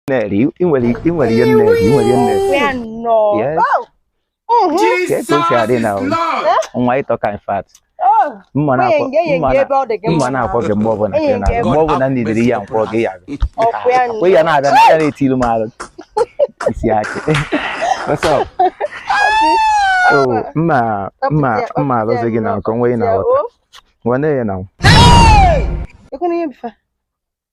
na-eri ị nwere ị nwere ihe nne ị nwere ihe nne Where no? Yes. Oh. Mhm. ka etu o si adị na nwa ị tọka in fact mma na-akpọ gị mgbe ọbụla mgbe ọbụla m needịrị ya m kpọọ gị ya kwe ya na-abịa na ya na-etilu m alụ isi achị mma mma mma alụzi gị na nke onwe ị na-aghọta nwanne ya na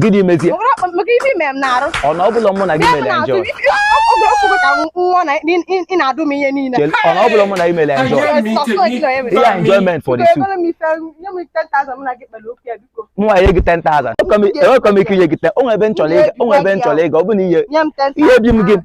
gịnị mezie ọ na ọ bụla mụ na gị mere enjoy ọ na ọ bụla mụ na gị mere enjoy ya enjoyment for the two mụ enye gị 10,000 enwekọ m ike inye gị 10 o nwe ebe m chọrọ ịga ọ bụ na ihe ihe bi m gị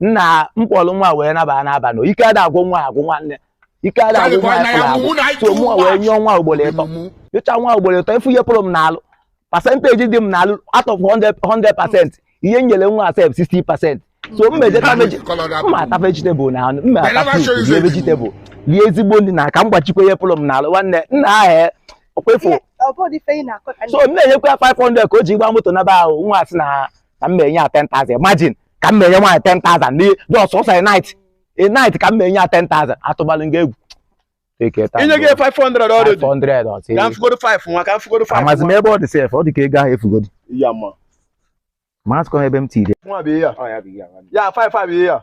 nna m kpọrọ nwa wee naba n'abalị ike ada agwụ nwa agwụ nwanne ike ada agwụ nwa ya agwụ so mụ wee nyụọ nwa ugboro ịtọ nyụcha nwa ugboro ịtọ ị fụ ihe pụrụ m n'alụ percentage dị m n'alụ out of 100 percent ihe nyere nwa a sef 60 percent so m mejeta mma ata vegetable na anụ mma ata fruit rie vegetable rie ezigbo nri na ka m gbachikwa ihe pụrụ m n'alụ nwanne nna ahụ ọ kwa ị fụ so m na-enyekwa ya 500 ka o ji gba moto naba ahụ nwa a sị na ka m menye ya 10,000 imagine ka m menye nwaanyị 10,000 n'ihi just ọsọ a night a night ka m menye ya 10,000 atụbalụ nga egwu Take it, inye gị 500 already 500 ọ sị ka m fugoro 5 nwa ka m fugoro 5 amazi m ebe ọ dị sef ọ dị ka ego ahụ efugodi ya ma amazịkọ m ebe m tiri nwa bụ ihe ya Ọ ya bụ ihe a nwanne. ya 5 5 ihe ya